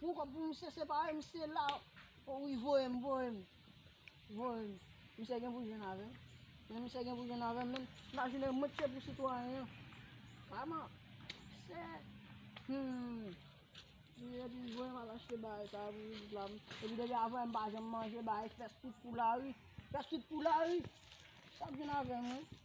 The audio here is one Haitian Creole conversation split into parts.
Pou kòb pou misye separe misye la oh wi voyem voyem voyem misye gen pou jwenn avèm men misye gen pou jwenn avèm men nan jounen mwen t se pou sitwayen an kman se humm misye di voyem al achte bagay sa pou pitit la epi depi aprè m pa janm manje bagay fès tout pou lari fès tout pou lari sa k gen avèm wi.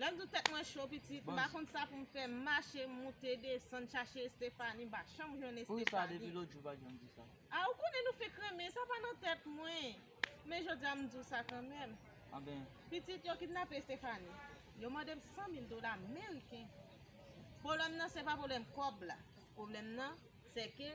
Lè m di w tèt mwen cho pitit, m pa konn sa pou m fè, m mache, m moute, desann, chache Estefani, m pa janm jwenn Estefani. Pou sa depi lòt jou pa janm di sa? A ou konnen nou fenk renmen, sa pa nan tèt mwen. Men jodi a m di w sa kanmenm. Anben. Pitit, yo kidnape Estefani. Yo mande m 100 mil dola meriken. Pwoblèm nan se pa pwoblèm kòb la. Pwoblèm nan se ke.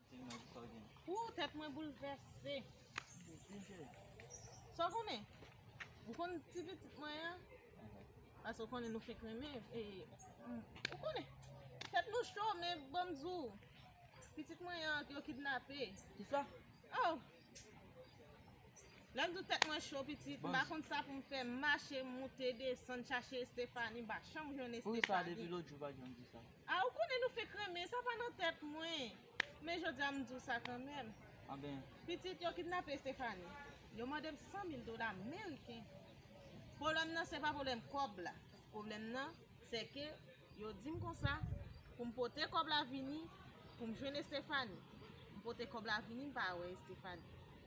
Ooh tèt mwen boulvèse. Sa w konnen? Ou konn ti pitit mwen an? Ase w konnen nou fenk renmen e ou konnen tèt nou cho men ban m di w pitit mwen an yo kidnape. Kisa? Oh! Lè m di w tèt mwen cho pitit m pa konn sa pou m fè m mache moute desann chache Estefani m pa janm jwenn Estefani. Pou kisa depi lòt jou ou pa janm di sa? Ah ou konnen nou fenk renmen sa pa nan tèt mwen men jodia m di w sa kanmenm Anben pitit yo kidnape Estefani yo mande m 100 mil dola meriken pwoblèm nan se pa pwoblèm kòb la pwoblèm nan se ke yo di m konsa pou m pote kòb la vini pou m jwenn Estefani m pote kòb la vini m pa wè Estefani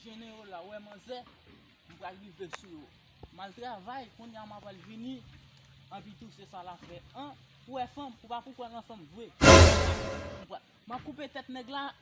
Jene yo la wè manzè m pral rive sou yo m al travay kounya m apral vini anpi tou se sa l ap fè an ou wè fanm ou pa pou kwè nan fanm vre m ap koupe tèt nèg la.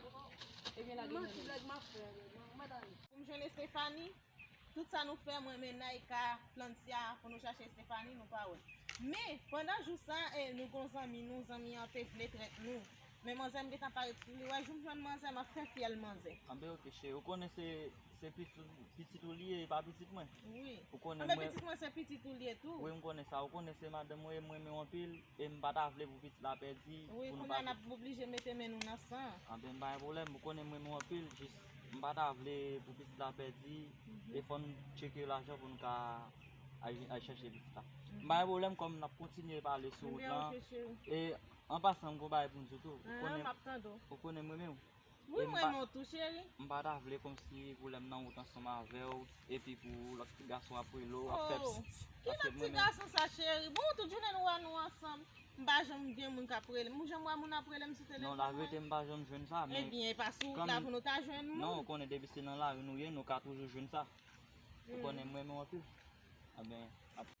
Pou m jwenn Estefani, tout sa nou fè mwen men Naïka, Francia pou nou chache Estefani nou pa wè. Men, pandan jou sa e nou gon zanmi nou, zanmi an te vle trèt nou. Men manzè m gentan parèt sou li, wè jou m jwenn manzè m ap fè fyèl manzè. Anben ok cheri, ou konnen se pitit ou li ye e pa pitit mwen? Wi. Anben pitit mwen se pitit ou li ye tou. Wi m konnen sa, ou konnen se madanm ou ye, m renmen w anpil. E m pa ta vle pou pitit la pèdi. Wi kounye a n ap oblije mete men nou nan san. Anben m pa gen pwoblèm, ou konnen m renmen w anpil, jis m pa ta vle pou pitit la pèdi e fò n tcheke lajan pou n ka al chèche pitit la. M pa gen pwoblèm kòm n ap kontinye pale sou wout lan. E an pasan m gen yon bagay pou m di w tou. An an, m ap tande w. Ou konnen m renmen w. Wi m renmen w tou cheri. M pa ta vle konsi pou lèm nan wout ansanm avèw epi pou lòt ti gason ap rele w ap fè psst paske m renmen w. Ki lòt ti gason sa cheri bon tout jounen nou wè nou ansanm m pa janm gen moun kap relem ou janm wè moun ap relem sou telefòn mwen. Non la verite m pa janm jwenn sa men. Ebyen e pa sou wout la pou nou ta jwenn moun. Non ou konnen depi se nan lari nou ye nou ka toujou jwenn sa ou konnen m renmen w anpil.